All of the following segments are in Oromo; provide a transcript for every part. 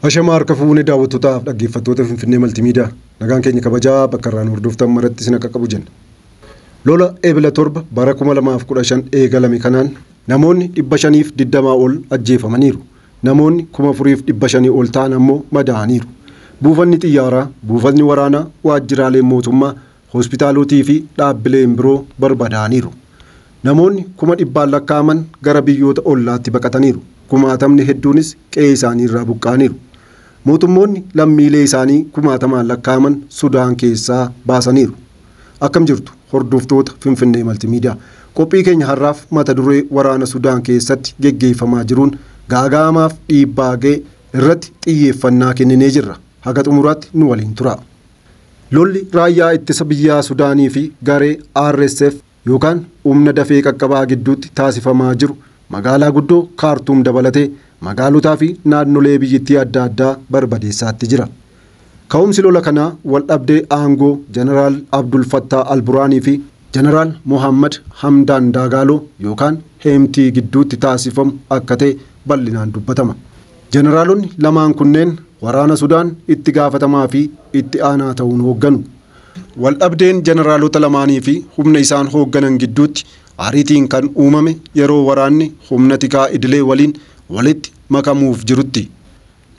Ashamaa harka fuune daawwattootaa fi dhaggeeffattoota Finfinnee Maltiimiidiyaa. Nagaan keenya kabajaa bakka irraa nu hordoftan maratti isin akka qabu jenna. Lola Ebla 7 bara 2015 eegalame kanaan namoonni 520 ol ajjeefamaniiru. Namoonni 4,500 ol ta'an ammoo madaa'aniiru. Buufanni xiyyaaraa, buufatni waraanaa, waajjiraaleen mootummaa, Hospitaalotii fi dhaabbileen biroo barbadaa'aniiru. Namoonni kuma dhibbaan lakkaa'aman gara biyyoota ollaatti baqataniiru. Kumaatamni hedduunis qe'ee isaanii irraa buqqa'aniiru. Mootummoonni lammiilee isaanii kumaatamaan lakkaa'aman Sudaan keessaa baasaniiru. Akkam jirtu hordoftoota Finfinnee Maltiimiidiyaa. Qophii keenya har'aaf mata duree waraana Sudaan keessatti geggeeffamaa jiruun gaaga'amaaf dhiibbaa ga'e irratti xiyyeeffannaa kenninee jirra. Haga xumuraatti nu waliin turaa. Lolli Raayyaa Ittisa Biyyaa Sudaanii fi garee RSF yookaan Humna Dafee Qaqqabaa gidduutti taasifamaa jiru magaalaa guddoo Kaartuum dabalatee magaalotaa fi naannolee biyyittii adda addaa barbadeessaatti jira. Ka'umsi lola kanaa waldhabdee aangoo Jeneraal Abdul Fattaa al-Buraanii fi Jeneraal Mohaammad Hamdaan Daagaaloo yookaan Heemtii gidduutti taasifamu akka ta'e bal'inaan dubbatama. Jeneraalonni lamaan kunneen waraana Sudaan itti gaafatamaa fi itti aanaa ta'uun hoogganu. Wal dhabdeen jeneraalota lamaanii fi humna isaan hoogganan gidduutti ariitiin kan uumame yeroo waraanni humna tikaa idilee waliin walitti makamuuf jirutti.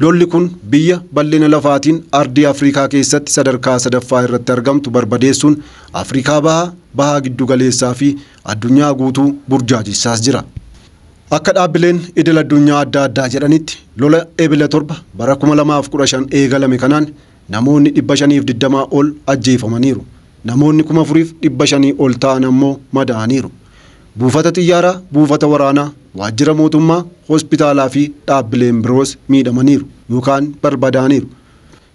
Lolli kun biyya bal'ina lafaatiin ardii Afrikaa keessatti sadarkaa sadaffaa irratti argamtu barbadeessuun Afrikaa Bahaa, Baha Giddugaleessaa fi addunyaa guutuu burjaajessaa jira. Akka dhaabbileen idil addunyaa adda addaa jedhanitti lola Ebila 7 bara 2015 eegalame kanaan namoonni 520 ol ajjeefamaniiru, namoonni 4,500 ol ta'an ammoo madaa'aniiru. Buufata xiyyaaraa, buufata waraanaa, waajjira mootummaa, hospitaalaa fi dhaabbileen biroos miidhamaniiru yookaan barbadaa'aniiru.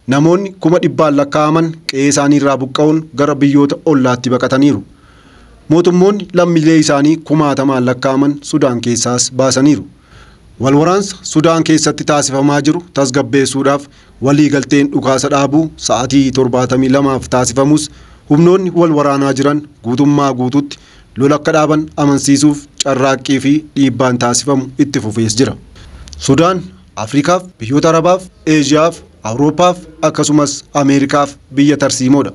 Namoonni kuma dhibbaan lakkaa'aman qe'ee isaanii irraa buqqa'uun gara biyyoota ollaatti baqataniiru. Mootummoonni lammiilee isaanii kumaatamaan lakkaa'aman Sudaan keessaas baasaniiru. Wal waraansa Sudaan keessatti taasifamaa jiru tasgabbeessuudhaaf walii galteen dhukaasa dhaabuu sa'atii 72f taasifamus humnoonni wal waraanaa jiran guutummaa guutuutti lola akka dhaaban amansiisuuf carraaqqii fi dhiibbaan taasifamu itti fufees jira. Sudaan Afrikaaf, biyyoota Arabaaf, Eeshiyaaf, Awurooppaaf akkasumas Ameerikaaf biyya tarsiimoodha.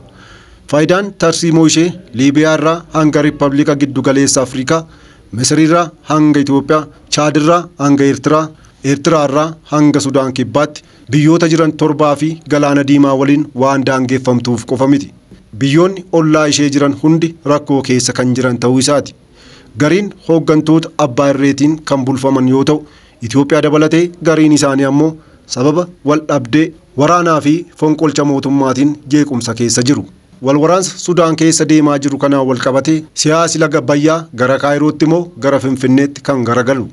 Faayidaan tarsiimoo ishee Liibiyaa irraa hanga Rippabiliika Giddu Galeessa Afrikaa, Misir irraa hanga Itoophiyaa, Chaad irraa hanga Eertiraa, Eertiraa irraa hanga Sudaan Kibbaatti biyyoota jiran torbaa fi Galaana Diimaa waliin waan daangeffamtuuf qofa miti. Biyyoonni ollaa ishee jiran hundi rakkoo keessa kan jiran ta'uu isaati. Gariin hooggantoota abbaa irreetiin kan bulfaman yoo ta'u, Itoophiyaa dabalatee gariin isaanii ammoo sababa waldhabdee, waraanaa fi fonqolcha mootummaatiin jeequmsa keessa jiru. Wal waraansa Sudaan keessa deemaa jiru kanaan wal qabatee siyaasi laga Abbayyaa gara Kaayirootti moo gara Finfinneetti kan garagalu?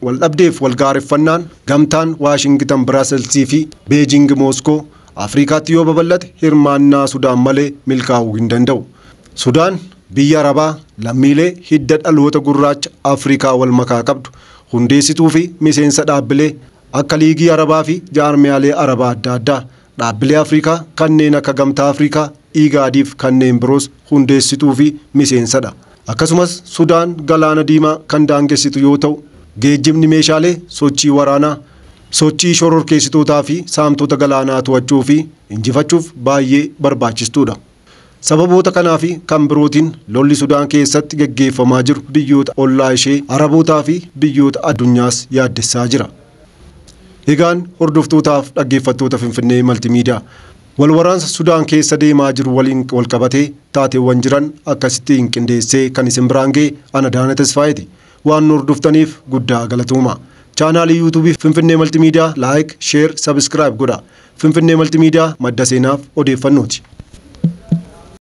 Wal dhabdeef wal gaareffannaan gamtaan Waashingitan Biraaselsii fi Beejiingi Mooskoo Afriikaatti yoo babal'ate hirmaannaa Sudaan malee milkaa'uu hin danda'u. Sudaan biyya Arabaa lammiilee hidda dhaloota gurraacha Afrikaa wal makaa qabdu, hundeessituu fi miseensa dhaabbilee akka Liigii Arabaa fi jaarmiyaalee Arabaa adda addaa, dhaabbilee Afrikaa kanneen akka Gamtaa Afrikaa, IGAD fi kanneen biroos hundeessituu fi miseensa dha. Akkasumas Sudaan Galaana Diimaa kan daangessitu yoo ta'u, geejjibni meeshaalee, sochii waraanaa, sochii shororkeessitootaa fi saamtota galaanaa to'achuu fi injifachuuf baay'ee barbaachistuu dha. Sababoota kanaa fi kan birootiin lolli Sudaan keessatti gaggeeffamaa jiru biyyoota ollaa ishee, Arabootaa fi biyyoota addunyaas yaaddessaa jira. Egaan hordoftootaaf dhaggeeffattoota Finfinnee Maltimiidiyaa, wal waraansa Sudaan keessa deemaa jiru waliin wal qabatee taateewwan jiran akkasittiin qindeessee kan isin biraan ga'e an Adaana Tasfaayeeti. Waan nu hordoftaniif guddaa galatoomaa. Chaanaalii Yuutuubii Finfinnee Maltimiidiyaa Like, Share, Subscribe godhaa. Finfinnee Maltiimiidiyaa, madda seenaaf odeeffannooti.